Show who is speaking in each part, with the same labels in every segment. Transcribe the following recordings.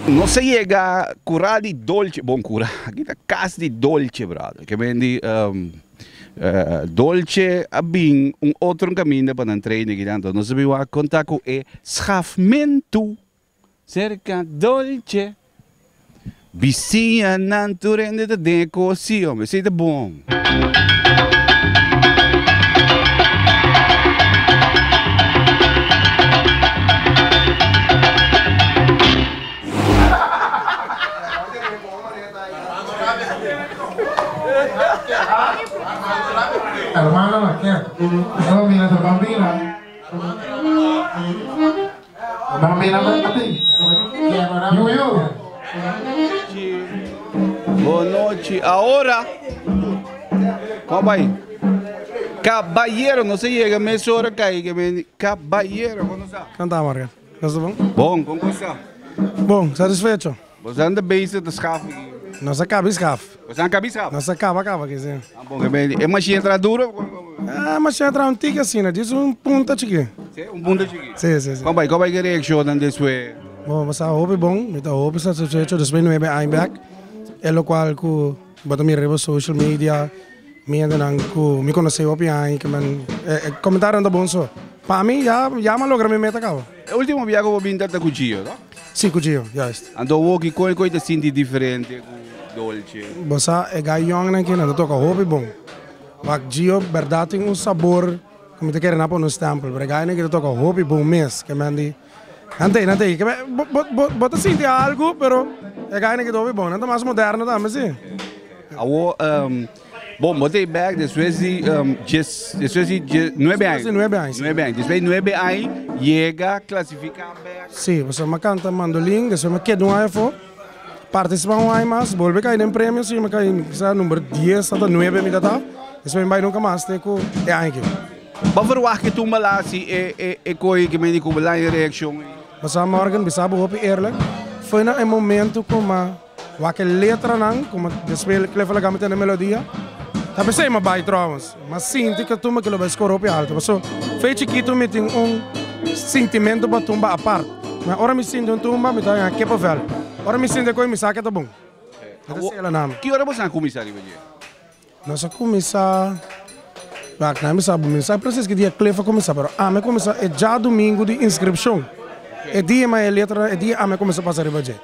Speaker 1: Nos a yega kura di dolce, bon kura, aki ta kas di dolce brother, ke men di dolce a bin un otro kaminda pa nan trainen aki den, anto nos a bin wak konta ku e schafmento Serka dolce. Bisiñanan tur hende ta den e cosi hombre, esey ta bon. Bonochi ahora Kombai Kabayero no se yega mes ora kai Kabayero kono sa? Kanta Marga Bon Bon kono sa? Bon satisfecho Bosan ta base ta schaf aki? Nos a caba e schaf. Bosan caba e schaf? Nos a caba caba aki si. Ah bon, e machine a traha duro of como? Ah, e machine a traha un tiki asina, jis un punta chiki. Si, un punta chiki. Si, si, si. Como bai, como bai ki reaccionnan despues? Bo, mi sa hopi bon, mi ta hopi satisfecho despues nuebe aña bek, e lo cual cu. Bo a ta mira riba social media mi hendenan ku mi konosé hopi aña ke men e komentarionan ta bon so. Pa mi ya ya mi a logra mi meta kaba. E ultimo bia ku bo binta ta ku Gio no? Si ku Gio, juist. Anto bo kiko ku e ta sinti diferente ku Dolce? Bo sa e gai yòngnan aki nan ta toka hopi bon. Wak Gio bèrdat tin un sabor ku mi ta kere nan pone un stèmpel pero e gainan aki ta toka hopi bon mes ke men di. Nan tei, nan tei. Bo ta sinti algu, pero e gainan kidoba i bon. Nan ta mas moderno tambe si. Awor, bon, bo ta e bèk despues di dies, despues di die, nuebe ai. Despues di nuebe ai, si. Nuebe ai. Despues di nuebe ai yega klasifiká bèk. Si, pasobra m'a kanta mandolin, despues m'a keda un ai afó, partisipá un ai mas, bolbe kai den premio, si m'a kai, kisa number dies ata nuebe mi ta tap, despues mi bai nunka mas te ku e ai aki. Bo ferwagt ke tumba Lassie e e koe ke meni ku belanja reakshon ei? Basá Morgan bisa bo hopi eerlijk, foi na e momento ku ma wak e letranan ku ma ta spel Cliff a la gama te na melodia, ta bisa ei ma bai trouwens, ma sinti ke tumba kilo bai skora hopi alto, paso fe chikito mi tin un sintimento pa tumba apart, ma ora mi sinti un tumba mi ta haña kippevel, ora mi sinti e koe mi sa ke ta bon. Ete sela nami. Ki ora bo sa kuminsá riba dje? Nos a kuminsá, wak nan mi sa bo, mi no sa presis ki dia Cliff a kuminsá, pero ami a kuminsá e dja dumingu di inskripshon, e dia mi a e letra, e dia ami a kuminsá pasa riba dje.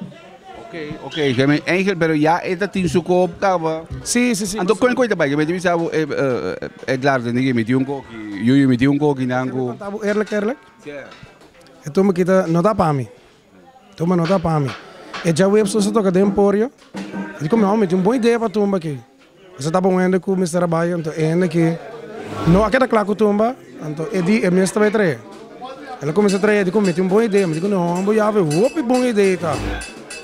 Speaker 1: Oke, oke, ke mi Angel, pero ya e ta tin su kop kaba. Sí, sí, sí. Anto kon kon e ta bai? Ke mi ta bisa bo, eh, eh, Edlardo, nigui, mi tin un koki, Yuyu, mi tin un koki, nan ku. Kanta bo eerlijk, eerlijk? Sja. E tur mi kita, no ta pa mi. Tuma nota pa mi. E djaweps nos a toka den podio, di cu mi awor mi tin un bon idea pa tumba aki. Nos a tapa un hende cu mester a bay, anto e hende aki no a keda cla cu tumba, anto e di e mes ta bay trae. El a cuminsa trae, e di cu mi tin un bon idea, mi di cu no, awor mi bo yabe hopi bon idea ta.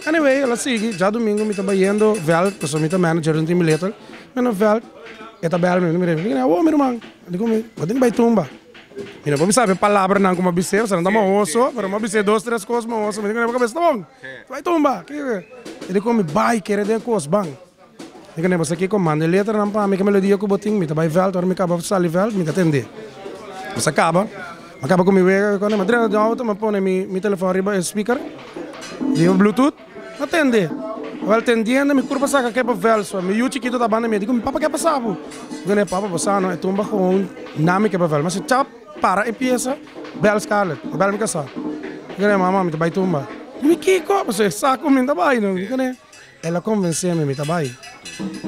Speaker 1: Anyway, el a sigui, djadumingu mi ta bayendo Veldt, pasobra mi ta manager den Timbilettel, mi a na Veldt, e ta bel mi, mi di cu mi, awor mi ruman, e di cu mi, bo tin cu bay tumba. Mira, bo bisa awe palabranan ku mi a bis'é, esnan ta mahoso, pero mi a bis'é dos tres kos mahoso, mi di ku nebo, kabes ta bon, bai tumba, ke ke. E di ku mi, bai kere den kosban. Mi di ku nebo, sa ki ku manda e letranan pa mi, ke melodia ku bo tin, mi ta bai vèlt, ora mi kaba sali vèlt mi ta tende. Nos a kaba, mi a kaba ku mi wega, mi a trena den outo, mi a pone mi telefòn riba e spikèr, riba bluetooth. No tende. Wel tendiendo mi kurpa saka kepa vels pa mi yu chikito ta banda mi a diku mi papa ke a pasa bo? Mi diku ne papa pasa no e tumba gewoon na mi kepa vels mester chap para e piesa bel Scarlett bel mi kasa mi diku ne mama mi ta bai tumba mi kiko pasobra e sa kuminda ta bai no mi diku ne el a konvensé mi mi ta bai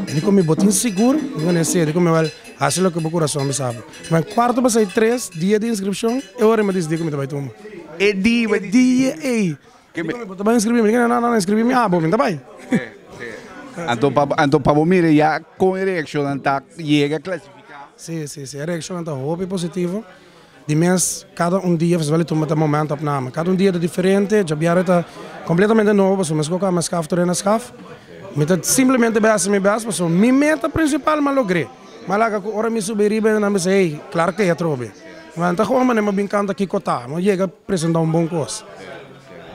Speaker 1: e diku mi bo tin sigur mi diku ne si e diku mi wel hasi loke bo kurason bisa bo kuma e kuarto pasai tres dia di inskripshon e ora mi a disidi ku mi ta bai tumba e di mi a di e ey Di con e bo ta bay inscribí mi? Di con e nan a inscribí mi? Abo mi ta bay. Anto pa bo mira ya con e reaccionnan ta yega clasifica? Sí, sí, sí, e reaccionnan ta hopi positivo. Di mes cada un dia Festival di Tumba ta momento opname. Cada un dia ta diferente, djabiari ta completamente nobo pasobra mi scoca Mescaf Torena Scaf. Mi ta simplemente bay haci mi best pasobra mi meta principal mi a logr'é. Ma laga cu ora mi subi riba e namis ey, claro que ey a trobe. Ma nan ta hoga mane mabin canta kico ta, no yega presenta un bon cos.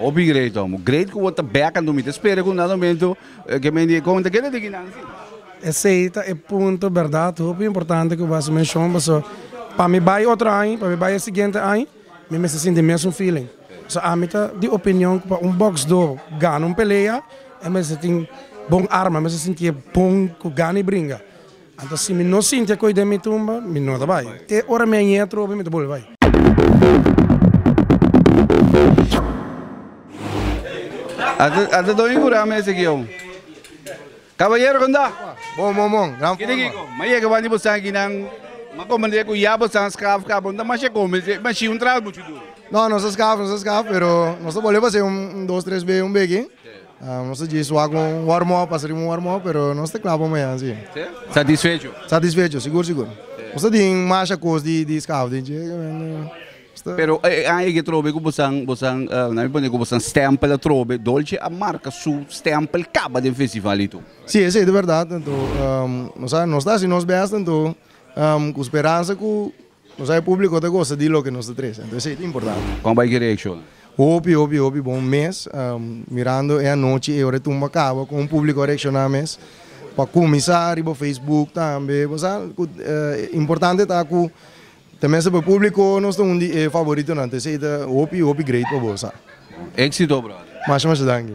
Speaker 1: Hopi great homo. Great cu bo ta back and mi ta spera cu un dado momento ke mende e conta keda di kinan si. Esey ta e punto berdad hopi importante cu bo a haci mencion paso pa mi bay otro aña, pa mi bay e siguiente aña mi mester sinti mesun feeling. So ami ta di opinion cu pa un boxdo gana un pelea e mester tin bon arma, mester sinti'e bon cu gana di bringa. Anto si mi no sintia koe den mi tumba, mi no ta bai. E ora mi a yega trobe, mi ta bolbe bai. Ata don i kura mester ki ou. Kabayero, konta. Bon, bon, bon. Gran forma. Kende ki ko m'a yega wandi bosan akinan? M'a komprende ku ya bosan skaf ka bon ta masha kome. E mashin un trabou muchu duru. No, nos a skaf, nos a skaf, pero nos ta bolbe basé un dos tres be un bege. Nos ta dje su wak un warm up, asina riba un warm up, pero nos ta kla pa mañan si. Si? Satisfecho? Satisfecho, sigur sigur. Nos ta tin masha kos di di skaf den dje, nos ta. Pero e aña eke trobe ku bosan, bosan, nan mi pone ku bosan stempel atrobe, Dolce a marka su stempel kaba den festival itu. Si, esei ta bèrdat, anto nos ta hasi nos bèst, anto ku speransa ku. Nos a e publico ta gosta di loke nos ta trece, enton esey ta importante. Con bay ki reacciona? Hopi, hopi, hopi bon mes. Mirando e anochi, e ora e tumba caba, con un publico a reacciona mes. Pa cuminsa riba Facebook tambe, bo sa cu importante ta cu ta mester pa e publico nos ta un di e favoritonan, enton esey ta hopi, hopi great pa bo, bo sa. Exito brother. Masha, masha danki.